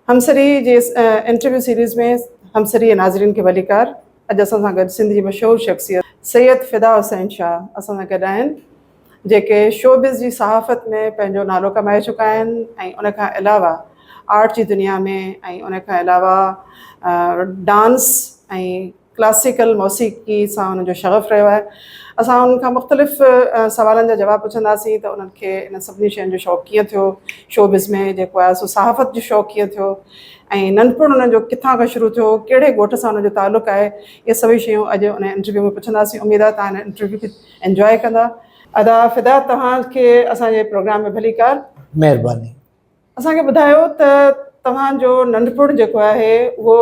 همسري جي interview series ۾ Hamsari جي ناظرين کي ڀليڪار اڄ اسان سان گڏ سنڌ جي مشهور شخصيت سيد فدا حسين شاهه اسان سان گڏ آهن جيڪي شوبز جي صحافت ۾ پنهنجو نالو ڪمائي چڪا آهن ۽ ان کان علاوه آرٽ جي دنيا ۾ ۽ ان کان علاوه ڊانس ۽ ڪلاسيڪل موسيقي سان انهن جو شغف رهيو آهي اسان انهن کان مختلف سوالن جا جواب پڇنداسين ته انهن کي انهن سڀني شين جو شوق ڪيئن ٿيو شوبز ۾ جيڪو آهي سو صحافت جو شوق ڪيئن ٿيو ۽ ننڍپڻ انهن جو ڪٿان کان شروع ٿيو ڪهڙي ڳوٺ سان انهن جو تعلق آهي اهي سڀئي شيون اڄ انهن انٽرويو ۾ پڇنداسين اميد آهي تهان انهن انٽرويو کي انجواء ڪندا ادا فدا توهان کي اسان جي پروگرام ۾ ڀليڪار. مهرباني. اسان کي ٻڌايو ته توهان جو ننڍپڻ جيڪو آهي اهو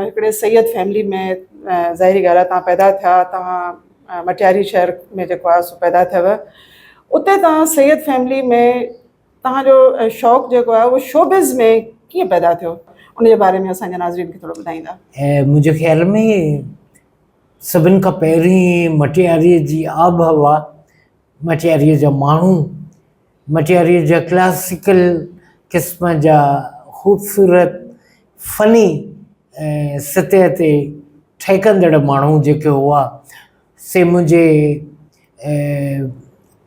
هڪڙي سيد فيملي ۾ ظاهري ڳالهه آهي توهان پيدا ٿيا توهان مٽياري شهر ۾ جيڪو آهي سو پيدا ٿيو اتي توهان سيد فيملي ۾ توهان جو شوق جيڪو آهي اهو شوبز ۾ ڪيئن پيدا ٿيو ان جي باري ۾ اسان جي ناظرين کي ٿورو ٻڌائيندا. منهنجي خيال ۾ سڀن کان پهرين مٽياريء جي آبهوا، مٽياريء جا ماڻهو، مٽياريء جا ڪلاسيڪل قسم جا خوبصورت فني سطح تي ٺهڪندڙ ماڻهو جيڪي هئا، سي منهنجي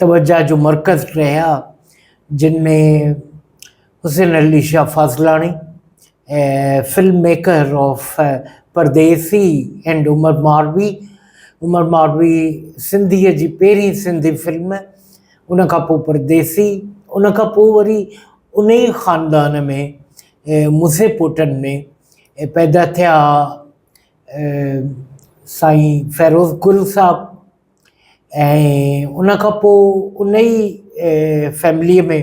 توجهه جو مرڪز رهيا، جن ۾ Hussain Ali Shah Fazlani ۽ film maker of Pardesi and Umar Marvi Umar Marvi سنڌيء جي پهرين سنڌي فلم ان کان پوء پرديسي ان کان پوء وري ان ئي خاندان ۾ مزي پوٽن ۾ پيدا ٿيا سائين فيروز گل صاحب ۽ ان کان پوء ان ئي فيمليء ۾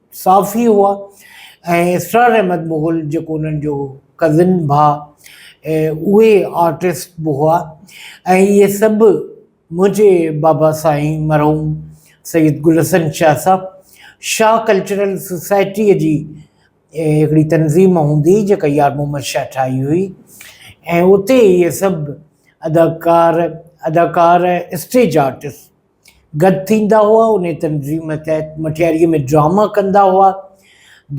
صافي هئا ۽ اسرار احمد مغل جيڪو انهن جو ڪزن ڀاء اهي آرٽسٽ به هئا ۽ اهي سڀ منهنجي بابا سائين مرحوم سيد گل حسن شاهه صاحب شاهه ڪلچرل سوسائٽيء جي هڪڙي تنظيم هوندي هئي جيڪا يار محمد شاهه ٺاهي هئي ۽ اتي اهي سڀ اداڪار اداڪار اسٽيج آرٽسٽ گڏ ٿيندا هئا، انهيء تنظيم تحت مٺياريء ۾ ڊراما ڪندا هئا،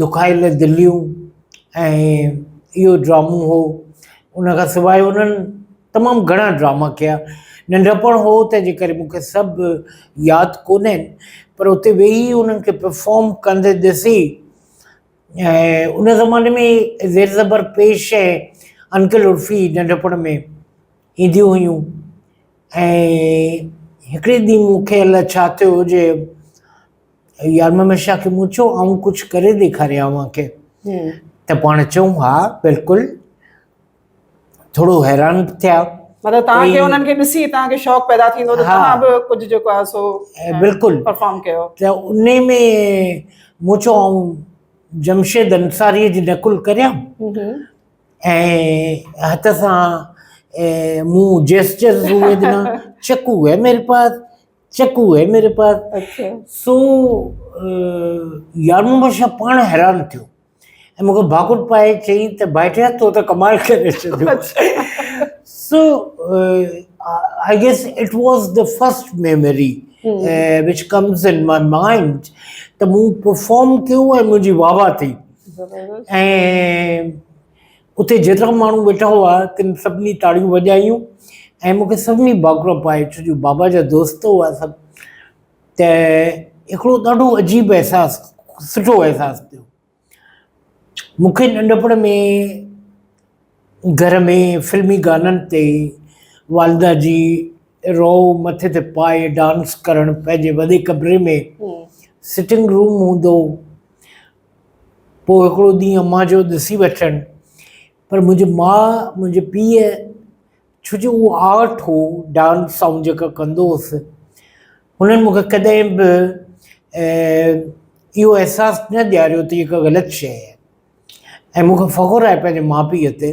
دکايل دليون ۽ اهو ڊرامو هو، ان کان سواء انهن تمام گهڻا ڊراما ڪيا، ننڍپڻ هو تنهن جي ڪري مون کي سڀ ياد ڪونهن پر اتي ويهي انهن کي پرفارم ڪندي ڏسي ۽ ان زماني ۾ زير زبر پيش ۽ انڪل عرفي ننڍپڻ ۾ اينديون هيون ۽ هڪڙي ڏينهن مون کي الاء ڇا ٿيو جو يار محمد شاهه کي مون چيو آئون ڪجهه ڪري ڏيکاريان اوهان کي ته پاڻ چيو ها بلڪل ٿورو حيران به ٿيا مطلب تان کي انهن کي ڏسي تان کي شوق پيدا ٿيندو ته تان به ڪجهه جيڪو آهي سو بلڪل پرفارم ڪيو ته انهي ۾ مون چيو آئون جمشيد انصاري جي نقل ڪريان ۽ هٿ سان مون جيسچر روئي ڏنا چڪو هي ميري پاس چڪو هي ميري پاس اچھا سو يار محمد شاھ پاڻ حيران ٿيو ۽ مونکي ڀاڪر پائي چيائين ته ڀائٽيا تو ته ڪمال ڪري ڇڏيو so I guess it was the first memory which comes in my mind ته مون پرفارم ڪيو ۽ منهنجي واهوا ٿي ۽ اتي جيترا ماڻهو ويٺا هئا تن سڀني تاڙيون وڄايون ۽ مونکي سڀني ڀاڪرو پائي ڇو جو بابا جا دوست هئا سڀ ته هڪڙو ڏاڍو عجيب احساس سٺو احساس ٿيو مونکي ننڍپڻ ۾ گهر ۾ فلمي گانن تي والده جي رو مٿي تي پائي ڊانس ڪرڻ پنهنجي وڏي ڪمري ۾ سٽنگ روم هوندو هو پوء هڪڙو ڏينهن امان چيو ڏسي وٺجن پر منهنجي ماء منهنجي پيء ڇو جو اهو آرٽ هو ڊانس آئون جيڪا ڪندو هوس هنن مون کي ڪڏهن به اهو احساس نه ڏياريو ته هي ڪا غلط شيء آهي ۽ مون کي فخر آهي پنهنجي ماء پيء تي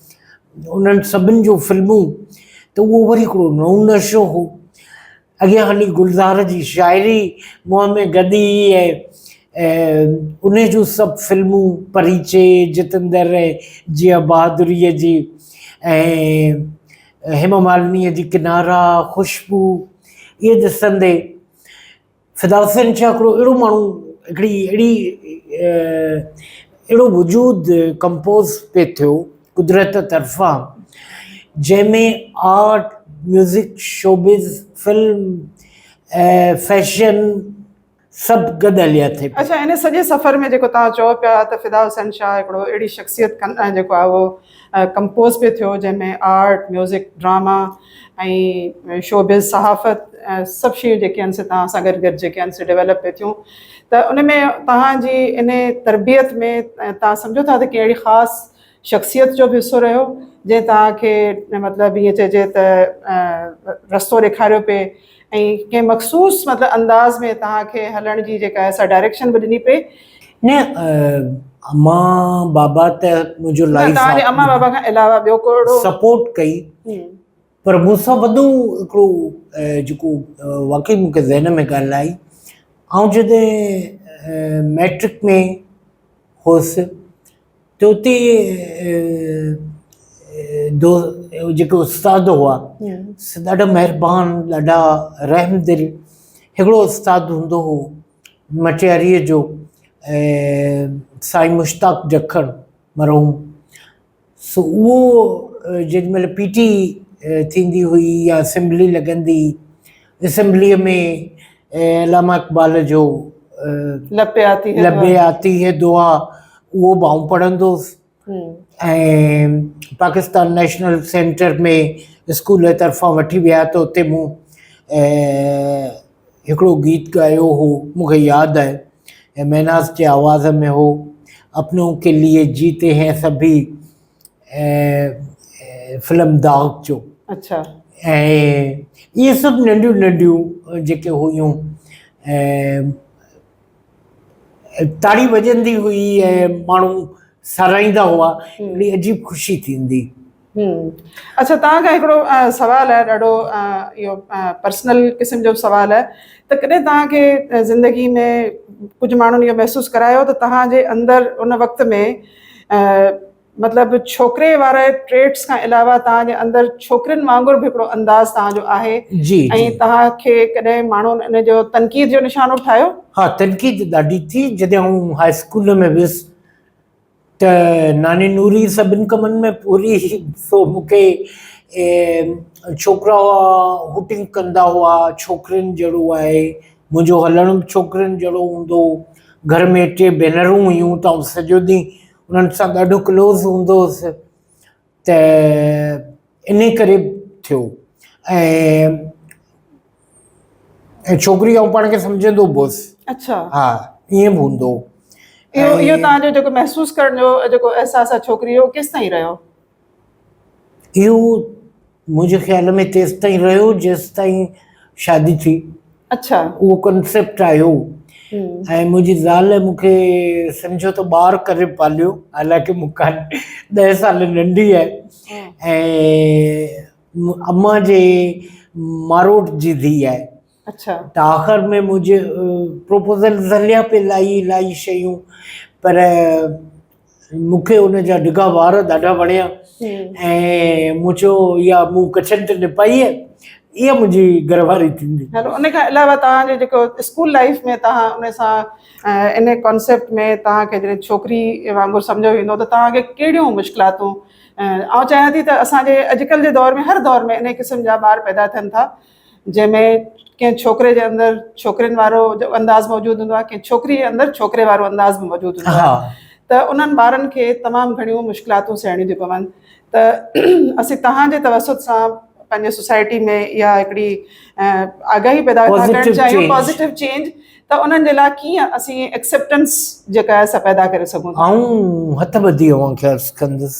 انهن سڀن جون فلمون ته اهو وري هڪڙو نئون نشو هو. اڳيان هلي گلزار جي شاعري منهن ۾ گڏي ۽ انهي جون سڀ فلمون پريچي، جتندر ۽ جيا بهادريء جي ۽ هيما مالنيء جي ڪنارا، خوشبو اهي ڏسندي فلاسفن ڇا هڪڙو اهڙو ماڻهو هڪڙي اهڙي اهڙو وجود ڪمپوز پئي ٿيو قدرت طرفان جنهن ۾ art music showbiz film ۽ fashion سڀ گڏ هليا ٿي پيا. اڇا ان سڄي سفر ۾ جيڪو توهان چئو پيا ته فدا حسين شاهه هڪڙو اهڙي شخصيت کن جيڪو آهي اهو ڪمپوز پي ٿيو جنهن ۾ آرٽ، ميوزڪ، ڊراما ۽ شوبز صحافت سڀ شيون جيڪي آهن سي توهان سان گڏ گڏ جيڪي آهن سي ڊيولپ پي ٿيون ته ان ۾ توهان جي ان تربيت ۾ توهان سمجهو ٿا ته ڪنهن اهڙي خاص شخصيت جو به حصو رهيو جنهن توهان کي مطلب ائين چئجي ته رستو ڏيکاريو پي ۽ ڪنهن مخصوص مطلب انداز ۾ توهان کي هلڻ جي جيڪا آهي سا ڊائريڪشن به ڏني پئي. نه امان بابا ته منهنجو لائيف پارٽنر. نه توهان جي امان بابا کان علاوه ٻيو ڪو اهڙو. سپورٽ ڪئي پر مون سان وڏو هڪڙو جيڪو واقعي مون کي ذهن ۾ ڳالهه آئي آئون جڏهن ميٽرڪ ۾ هوس توتي دو جيڪي استاد هئا ڏاڍا مهربان ڏاڍا رحم دل هڪڙو استاد هوندو هو مٽياريء جو سائين مشتاق جکڙ مرحوم سو اهو جيڏي مهل پي ٽي ٿيندي هئي يا اسيمبلي لڳندي اسيمبليء ۾ علامه اقبال جو لبي آتي هي دعا اهو به آئون پڙهندو هوس ۽ پاڪستان نيشنل سينٽر ۾ اسڪول جي طرفان وٺي ويا ته اتي مون هڪڙو گيت ڳايو هو مون کي ياد آهي ۽ مهناز جي آواز ۾ هو اپنو ڪي ليئي جيتي هين سڀي فلم داغ جو اچھا ۽ اهي سڀ ننڍيون ننڍيون جيڪي هيون تاڙي وڄندي هئي ۽ ماڻهو ساراهيندا هئا اهڙي عجيب خوشي ٿيندي اچھا تان کان هڪڙو سوال آهي ڏاڍو اهو پرسنل قسم جو سوال آهي ته ڪڏهن تان کي زندگي ۾ ڪجھه ماڻهن اهو محسوس ڪرايو ته تان جي اندر ان وقت ۾ مطلب ڇوڪري واري ٽريٽس کان علاوه تان جي اندر ڇوڪرين وانگر به هڪڙو انداز تان جو آهي جي ۽ تان کي ڪڏهن ماڻهن ان جو تنقيد جو نشانو ٺاهيو ها تنقيد ڏاڍي ٿي جڏهن آئون هاء اسڪول ۾ ويس ته ناني نوري سڀن ڪمن ۾ پوري سو مونکي ڇوڪرا هئا هوٽنگ ڪندا هئا ڇوڪرين جهڙو آهي منهنجو هلڻ به ڇوڪرين جهڙو هوندو هو. گهر ۾ ٽي ڀينرون هيون ته آئون سڄو ڏينهن انهن سان ڏاڍو ڪلوز هوندو هوس ته انهي ڪري به ٿيو ۽ ۽ ڇوڪري آئون پاڻ کي سمجهندو به هوس اچھا ها ائين به هوندو هو اهو اهو تهان جو جيڪو محسوس ڪرڻ جو جيڪو احساس آهي ڇوڪري جو ڪيستائين رهيو اهو منهنجي خيال ۾ تيستائين رهيو جيستائين شادي ٿي. اڇا. اهو ڪنسيپٽ آيو ۽ منهنجي زال مون کي سمجهو ته ٻار ڪري پاليو حالانڪه مون کان ڏهه سال ننڍي آهي ۽ امان جي ماروٽ جي ڌيء آهي. اڇا ته آخر ۾ منهنجي پروپوزل ذريعا پي لائي لائي شيون پر مونکي ان جا ڊگها وار ڏاڍا وڻيا ۽ مون چيو يا مون ڪڇن تي نپائي آهي اها منهنجي گهر واري ٿيندي هلو ان کان علاوه توهان جو جيڪو اسڪول لائيف ۾ توهان ان سان ان ڪانسيپٽ ۾ توهان کي جڏهن ڇوڪري وانگر سمجهيو ويندو ته توهان کي ڪهڙيون مشڪلاتون آئون چاهيان ٿي ته اسان جي اڄڪلهه جي دور ۾ هر دور ۾ ان قسم جا ٻار پيدا ٿين ٿا جنهن ۾ ڪنهن ڇوڪري جي اندر ڇوڪرين وارو انداز موجود هوندو آهي ڪنهن ڇوڪري جي اندر ڇوڪري وارو انداز به موجود هوندو آهي ته انهن ٻارن کي تمام گهڻيون مشڪلاتون سهڻيون ٿيون پون ته اسين توهان جي توسط سان پنهنجي سوسائٽي ۾ اها هڪڙي آگاهي پيدا ڪرڻ چاهيون پازيٽو چينج ته انهن جي لاء ڪيئن اسين ايڪسيپٽنس جيڪا آهي سا پيدا ڪري سگهون ٿا آئون هٿ ٻڌي اوهان کي عرض ڪندس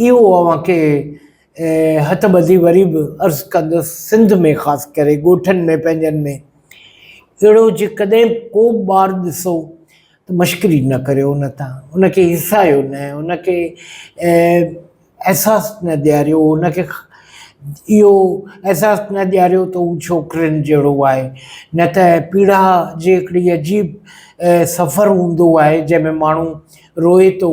اهو اوهان کي هٿ ٻڌي وري به عرض ڪندس، سنڌ ۾ خاص ڪري ڳوٺن ۾ پنهنجن ۾ اهڙو جي ڪڏهن ڪو به ٻار ڏسو ته مشڪري نه ڪريو ان تان، ان کي هيسايو نه، ان کي احساس نه ڏياريو، ان کي اهو احساس نه ڏياريو ته هو ڇوڪرين جهڙو آهي، نه ته پيڙاء جي هڪڙي عجيب سفر هوندو آهي جنهن ۾ ماڻهو روئي ٿو.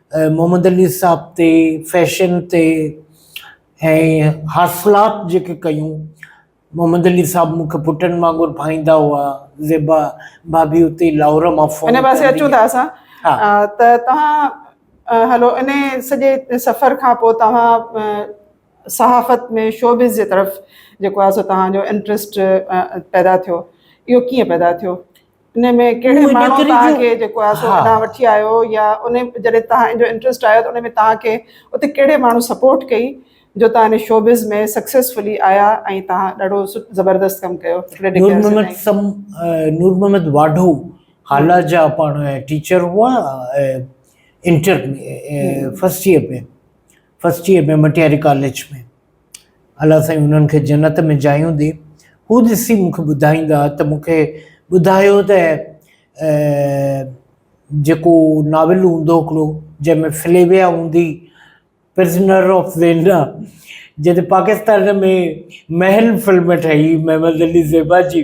محمد علي صاحب تي فيشن تي ۽ حاصلات جيڪي ڪيون محمد علي صاحب مون کي پٽن وانگر ڀائيندا هئا زيبا ڀاڀي اتي لاهور مان فون ان پاسي اچون ٿا اسان ته توهان هلو ان سڄي سفر کان پوء توهان صحافت ۾ شوبز جي طرف جيڪو آهي سو توهان جو انٽرسٽ پيدا ٿيو اهو ڪيئن پيدا ٿيو ان ۾ ڪهڙي ماڻهو توهان کي جيڪو آهي سو هتان وٺي آيو يا ان جڏهن توهان جو انٽرسٽ آيو ته ان ۾ توهان کي اتي ڪهڙي ماڻهو سپورٽ ڪئي جو توهان ان شوبز ۾ سڪسيسفلي آيا ۽ توهان ڏاڍو زبردست ڪم ڪيو نور محمد سم نور محمد واڍو حالا جا پاڻ ٽيچر هئا inter first year ۾ first year ۾ Matiari college ۾. الله سائين هنن کي جنت ۾ جايون ڏي. هو ڏسي مون کي ٻڌائيندا ته مون کي ٻڌايو ته جيڪو ناول هوندو هڪڙو جنهن ۾ فليويا هوندي پرزنر آف ويلنا جڏهن پاڪستان ۾ محل فلم ٺهي محمد علي زيبا جي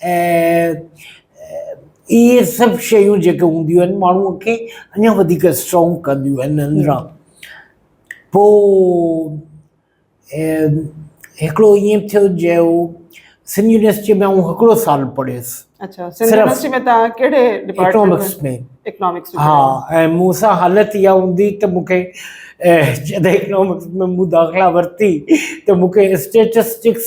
۽ اهي سڀ شيون جيڪي هونديون آهن ماڻهوء کي اڃا وڌيڪ اسٽرانگ ڪنديون آهن اندران پوء هڪڙو ائين به ٿيو جو سنڌ يونيورسٽيء ۾ آئون هڪڙو سال پڙهيس اچا سنڌ يونيورسٽي ۾ تان ڪهڙي اڪنامڪس ۾ اڪنامڪس ها ۽ مون سان حالت اها هوندي ته مون کي جڏهن اڪنامڪس ۾ مون داخلا ورتي ته مون کي اسٽيٽسٽڪس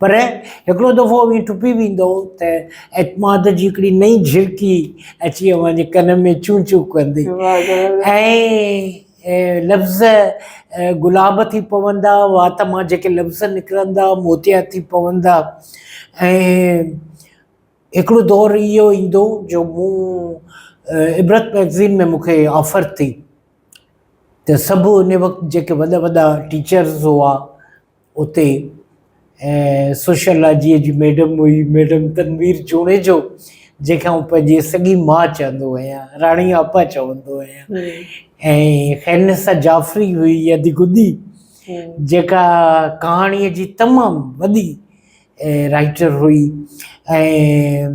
پر هڪڙو دفعو اوهين ٽپي ويندؤ ته اعتماد جي هڪڙي نئين جهرڪي اچي اوهان جي ڪن ۾ چون چون ڪندي ۽ لفظ گلاب ٿي پوندا وات مان جيڪي لفظ نڪرندا موتيا ٿي پوندا ۽ هڪڙو دور اهو ايندو جو مون عبرت ميگزين ۾ مونکي آفر ٿي ته سڀ ان وقت جيڪي وڏا وڏا ٽيچرز هئا اتي سوشيالاجيء جي ميڊم هئي ميڊم تنوير جوڻيجو جنهن کي آئون پنهنجي سڳي ماء چوندو آهيان راڻي آپا چوندو آهيان ۽ خيرنسا جعفري هئي يدي گدي جيڪا ڪهاڻيء جي تمام وڏي رائٽر هئي ۽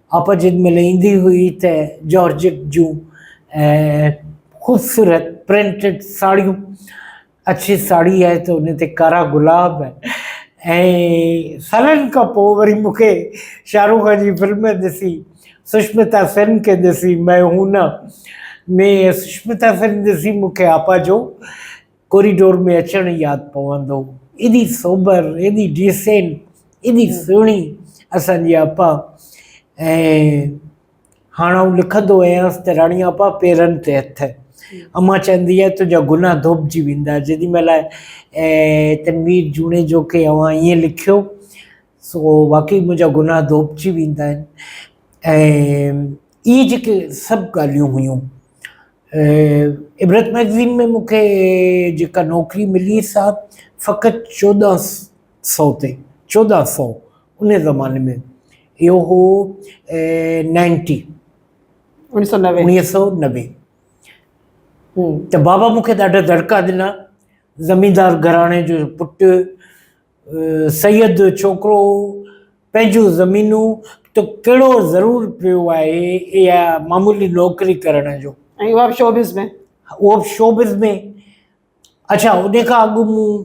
اپ جن مهل ايندي هئي ته جارجٽ جون خوبصورت پرنٽڊ ساڙهيون اڇي ساڙهي آهي ته ان تي ڪارا گلاب ۽ سالن کان پوء وري مون کي شاهه رخ خان جي فلم ڏسي سشمتا سين کي ڏسي مئي هون نه ۾ سشمتا سين ڏسي مون کي آپا جو ڪوريڊور ۾ اچڻ ياد پوندو. ايڏي سوبر، ايڏي ڊيسينٽ، ايڏي سهڻي اسان جي آپا ۽ هاڻ آئون لکندو آهيانس ته راڻي آپا پيرن تي هٿ. امان چوندي آهي تنهنجا گناهه ڌوپجي ويندا. جيڏي مهل تنوير جوڻيجو کي اوهان ائين لکيو سو واقعي منهنجا گناهه ڌوپجي ويندا آهن ۽ اهي جيڪي سڀ ڳالهيون هيون عبرت مئگزين ۾ مون کي جيڪا نوڪري ملي سا فقط چوڏهن سئو تي چوڏهن سئو ان زماني ۾ اهو هو نائنٽي انيس سئو نوي انيس سئو نوي ته بابا مون کي ڏاڍا دڙڪا ڏنا زميندار گھراڻي جو پٽ سيد ڇوڪرو پنهنجون زمينون تو ڪهڙو ضرور پيو آهي اها معمولي نوڪري ڪرڻ جو ۽ اها به شو بز ۾ اهو به شو بز ۾ اڇا ان کان اڳ مون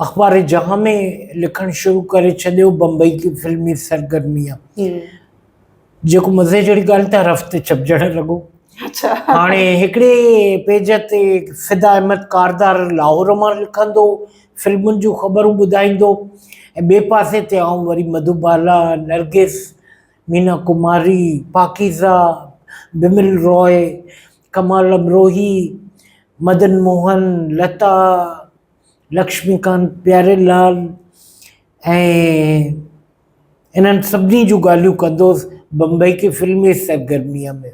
اخبار جهان ۾ لکڻ شروع ڪري ڇڏيو بمبئي جي فلمي سرگرميء جيڪو مزي جهڙي ڳالهه ته هر هفتي ڇپجڻ لڳو. اچھا. هاڻي هڪڙي پيج تي فدا احمد ڪاردار لاهور مان لکندو، فلمن جون خبرون ٻڌائيندو ۽ ٻئي پاسي تي آئون وري مڌو بالا، نرگس، مينا ڪماري، پاڪيزه، بمل راء، ڪمال امروهي، مدن موهن، لتا، لڪشمي ڪانت پياري لال ۽ انهن سڀني جون ڳالهيون ڪندوس بمبئي کي فلمي سرگرميء ۾.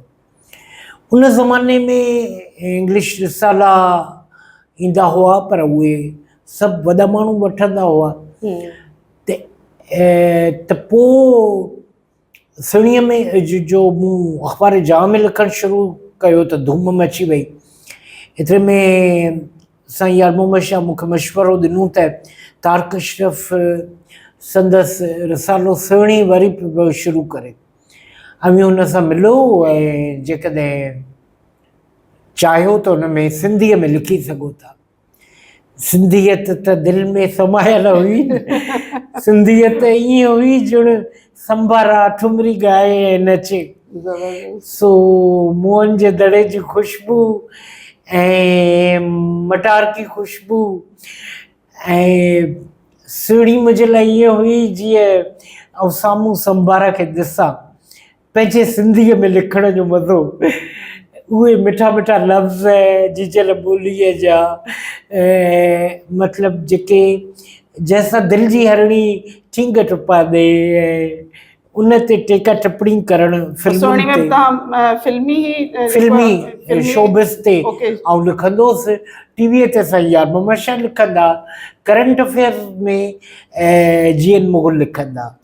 ان زماني ۾ انگلش رسالا ايندا هئا پر اهي سڀ وڏا ماڻهو وٺندا هئا ته ته پوء سهڻيء ۾ جو مون اخبار جهان ۾ لکڻ شروع ڪيو ته ڌوم مچي وئي. ايتري ۾ سائين يار محمد شاهه مون کي مشورو ڏنو ته طارق اشرف سندس رسالو سهڻي وري به پيو شروع ڪري. اوهين هن سان ملو ۽ جيڪڏهن چاهيو ته ان ۾ سنڌيء ۾ لکي سگهو ٿا. سنڌيت ته دل ۾ سمايل هئي نه. سنڌيت ائين هئي ڄڻ سنبارا ٺمري ڳائي ۽ نچي سو موئن جي دڙي جي خوشبو ۽ مٽارڪي خوشبو ۽ سهڻي منهنجي لاء ائين هئي جيئن آئون سامهون سنبارا کي ڏسان پنهنجي سنڌيء ۾ لکڻ جو مزو اهي مٺا مٺا لفظ جيجل ٻوليء جا مطلب جيڪي جنهن سان دل جي هرڻي ٺينگ ٽپا ڏئي ۽ ان تي ٽيڪا ٽپڻي ڪرڻ فلمن تي فلمي فلمي شوبز تي آئون لکندوس ٽي وي تي سائين يار محمد شاهه لکندا current affairs ۾ G N Mughal لکندا.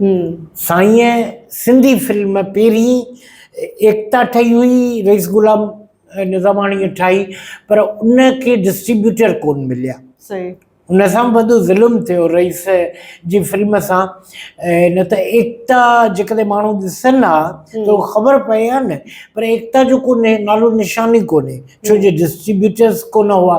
هي. سائين سنڌي فلم پهرين ايڪتا ٺهي هئي رئيس غلام نظاماڻي ٺاهي پر ان کي ڊسٽريبيوٽر ڪون مليا صحيح ان سان وڏو ظلم ٿيو رئيس جي فلم سان نه ته ايڪتا جيڪڏهن ماڻهو ڏسن ها ته خبر پئي ها نه پر ايڪتا جو ڪو نالو نشان ئي ڪونهي ڇو جو ڊسٽريبيوٽرز ڪون هئا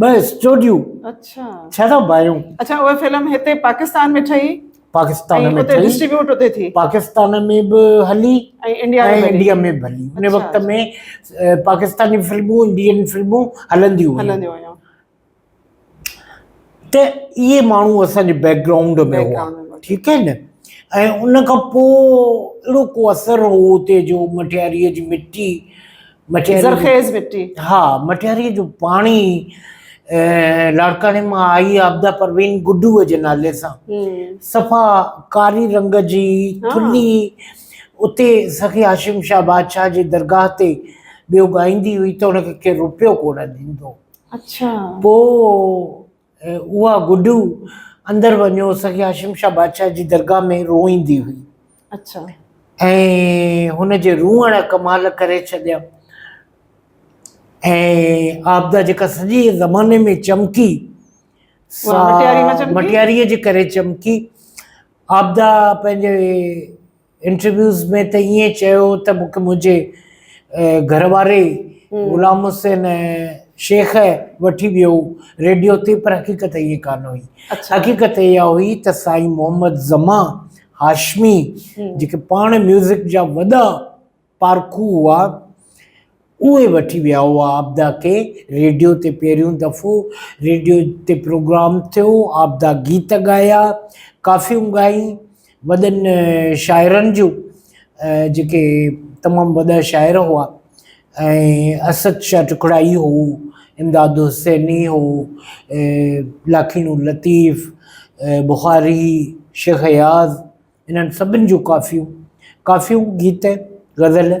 ٻه اسٽوڊيون اچھا ڇهه بايون اچھا اهي فلم هتي پاڪستان ۾ ٺهي پاڪستان ۾ ٺهي ڊسٽريبيوٽ هتي ٿي پاڪستان ۾ به هلي ۽ انڊيا ۾ انڊيا ۾ به هلي ان وقت ۾ پاڪستاني فلمون انڊين فلمون هلنديون هلنديون هيون ته اهي ماڻهو اسان جي بيڪ گرائونڊ ۾ هئا ٺيڪ آهي نه ۽ ان کان پوء اهڙو ڪو اثر هو اتي جو مٺياريء جي مٽي مٽياري زرخيز مٽي ها مٽياري جو پاڻي لاڙڪاڻي مان آئي عابده پروين گڊوء جي نالي سان صفا ڪاري رنگ جي ٿلي اتي سخي هاشم شاهه بادشاهه جي درگاهه تي ٻيو ڳائيندي هئي ته ان کي ڪير روپيو ڪونه ڏيندو اچھا پوء اها گڊو اندر وڃو سيد هاشم شاهه بادشاهه جي درگاهه ۾ روئيندي هئي. اڇا. ۽ هن جي روئڻ ڪمال ڪري ڇڏيا. ۽ عابده جيڪا سڄي زماني ۾ چمڪي سا مٽياري نه چمڪي؟ مٽياريء جي ڪري چمڪي. عابده پنهنجي انٽرويوز ۾ ته ائين چيو هو ته مون کي منهنجي گهر واري غلام حسين شيخ وٺي ويو ريڊيو تي پر حقيقت ائين ڪانه هئي حقيقت اها هئي ته سائين محمد زمان هاشمي جيڪي پاڻ ميوزڪ جا وڏا پارکو هئا، اهي وٺي ويا هئا عابده کي، ريڊيو تي پهريون دفعو ريڊيو تي پروگرام ٿيو، عابده گيت ڳايا، ڪافيون ڳايون، وڏن شاعرن جون، جيڪي تمام وڏا شاعر هئا ۽ اسد شاهه ٽکڙائي هو، امداد حسيني هو، لاکيڻو لطيف، بخاري، شيخ اياز، انهن سڀن جون ڪافيون، ڪافيون، گيت، غزل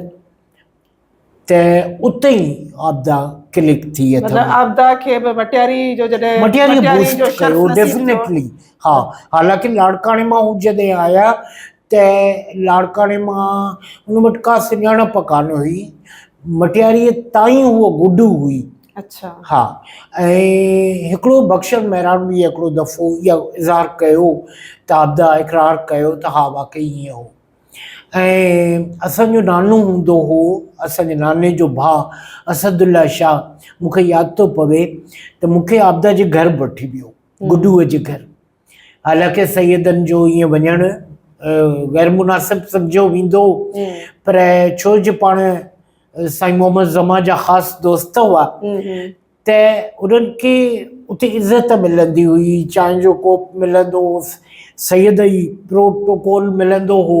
ته اتي ئي عابده ڪلڪ ٿي اٿم. مطلب عابده کي به مٽياري جو جڏهن مٽياري بوسٽ ڪيو ڊيفنيٽلي ها حالانڪه لاڙڪاڻي مان هو جڏهن آيا ته لاڙڪاڻي مان ان وٽ ڪا سڃاڻپ ڪانه هئي مٽياري تائين هو گڊو هئي. اڇا ها ۽ هڪڙو بخشن مهراڻ به هڪڙو دفعو اها اظهار ڪيو ته عابده اقرار ڪيو ته ها واقعي ائين هو ۽ اسان جو نانو هوندو هو اسان جي ناني جو ڀاء اسد الله شاهه مون کي ياد ٿو پوي ته مون کي عابده جي گهر به وٺي ويو گڊوء جي گهر حالانڪه سيدن جو ائين وڃڻ غير مناسب سمجهيو ويندو هو پر ڇو جو پاڻ سائين محمد زمان جا خاص دوست هئا ته انهن کي اتي عزت ملندي هئي چانهه جو ڪوپ ملندو هو سيد ئي پروٽوڪول ملندو هو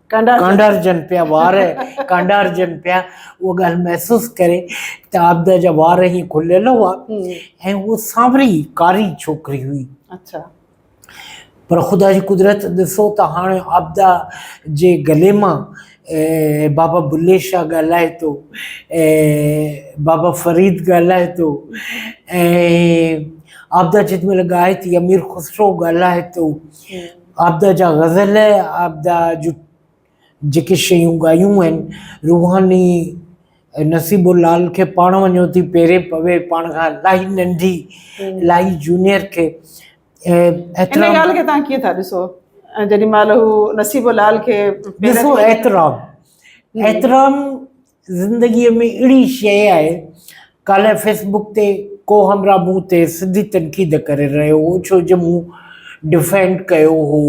ڪانڊارجن پيا وار ڪانڊارجن پيا اها ڳالهه محسوس ڪري ته عابده جا وار هي کليل هئا ۽ هو سانوري ڪاري ڇوڪري هئي اچھا پر خدا جي قدرت ڏسو ته هاڻي عابده جي گلي مان بابا بلي شاهه ڳالهائي ٿو بابا فريد ڳالهائي ٿو ۽ عابده جيڏي مهل ڳائي ٿي امير خسرو ڳالهائي ٿو عابده جا غزل، عابده جون جيڪي شيون ڳايون آهن، روحاني نصيب لال کي پاڻ وڃو ٿي پيري پوي، پاڻ کان الاهي ننڍي، الاهي جونيئر کي ان احترام ڳالهه کي تهان ڪيئن ٿا ڏسو جيڏي مهل هو نصيب لال کي پيرن ڏسو احترام احترام زندگيء ۾ اھڙي شيء آھي. ڪالهه فيس بڪ تي ڪو ھمراھ مون تي سڌي تنقيد ڪري رھيو ھو ڇو جو مون ڊفينڊ ڪيو ھو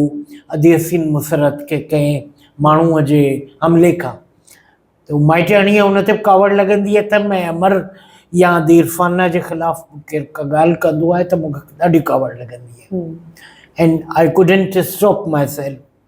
ادي حسين مسرت کي ڪنھن ماڻھوء جي حملي کان ته مائٽياڻيء ان تي به ڪاوڙ لڳندي اٿم ۽ امر يا ادي عرفانه جي خلاف به ڪير ڪا ڳالهه ڪندو آھي ته مون کي ڏاڍي ڪاوڙ لڳندي آھي and I couldn't stop myself.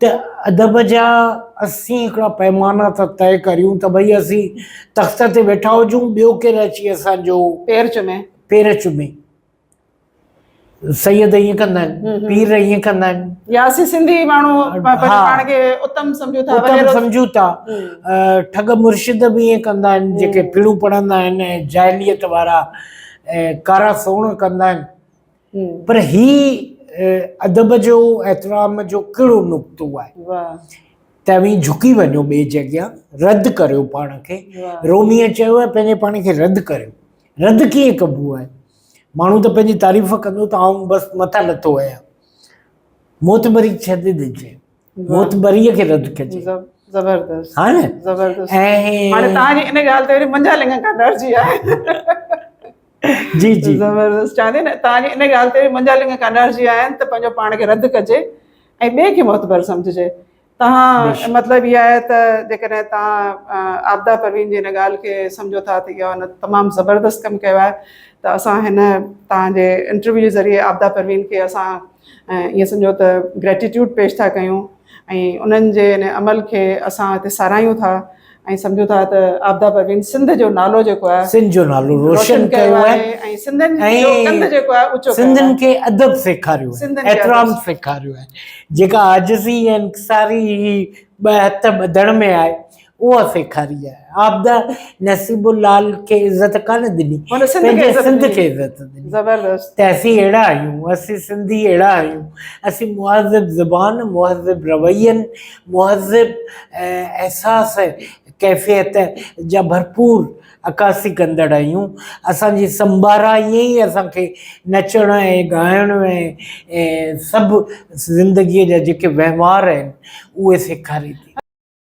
ته ادب جا اسين هڪڙا پئمانا ٿا طئي ڪريون ته ڀئي اسين تخت تي ويٺا هجون ٻيو ڪير اچي اسان جو پير چمي پير چمي سيد ائين ڪندا آهن پير ائين ڪندا آهن يا اسين سنڌي ماڻهو پاڻ کي اتم سمجهون ٿا اتم سمجهون ٿا ٺڳ مرشد به ائين ڪندا آهن جيڪي پڙهون پڙهندا آهن جاهليت وارا ڪارا سوڻ ڪندا آهن پر هي ادب جو احترام جو ڪهڙو نقطو آهي ته اوهين جهڪي وڃو ٻئي جي اڳيان رد ڪريو پاڻ کي روميء چيو آهي پنهنجي پاڻ کي رد ڪريو رد ڪيئن ڪبو آهي ماڻهو ته پنهنجي تعريف ڪندو ته آئون بس مٿا لٿو آهيان موت مري ڇڏي ڏجي معتبري کي رد ڪجي زبردست ها نه زبردست ۽ هاڻي تان جي ان ڳالهه تي منجا لنگا کا ڊر جي آهي جي جي زبردست چاندي نه تان جي ان ڳالهه تي منجا لنگا کا ڊر جي آهي ته پنهنجو پاڻ کي رد ڪجي ۽ ٻي کي معتبر سمجهجي تان مطلب هي آهي ته جيڪڏهن تان عابده پروين جي ان ڳالهه کي سمجهو ٿا ته اهو تمام زبردست ڪم ڪيو آهي ته اسان هن تان جي انٽرويو جي ذريعي عابده پروين کي اسان ائين سمجهو ته Gratitude پيش ٿا ڪيون ۽ انهن جي ان عمل کي اسان هتي ساراهيون ٿا ۽ سمجهون ٿا ته عابده پروين سنڌ جو نالو جيڪو آهي سنڌ جو نالو روشن ڪيو آهي ۽ سنڌين جو ڪنڌ جيڪو آهي اوچو ڪيو آهي. سنڌين کي ادب سيکاريو آهي سنڌين کي ادب. احترام سيکاريو آهي جيڪا عاجزي ۽ انڪساري هي ٻه هٿ ٻڌڻ ۾ آهي اها سيکاري آهي. عابده نصيب العال کي عزت ڪانه ڏني. هن سنڌ کي عزت سنڌ کي ڏني. عزت ڏني. زبردست. ته اسين اهڙا آهيون. اسين سنڌي اهڙا آهيون. اسين مهذب زبان، مهذب روين، مهذب احساس ڪيفيت جا ڀرپور عڪاسي ڪندڙ آهيون. اسان جي سمبارا ائين ئي اسان کي نچڻ ۽ ڳائڻ ۽ سڀ زندگيء جا جيڪي وهنوار آهن اهي سيکاري ٿي.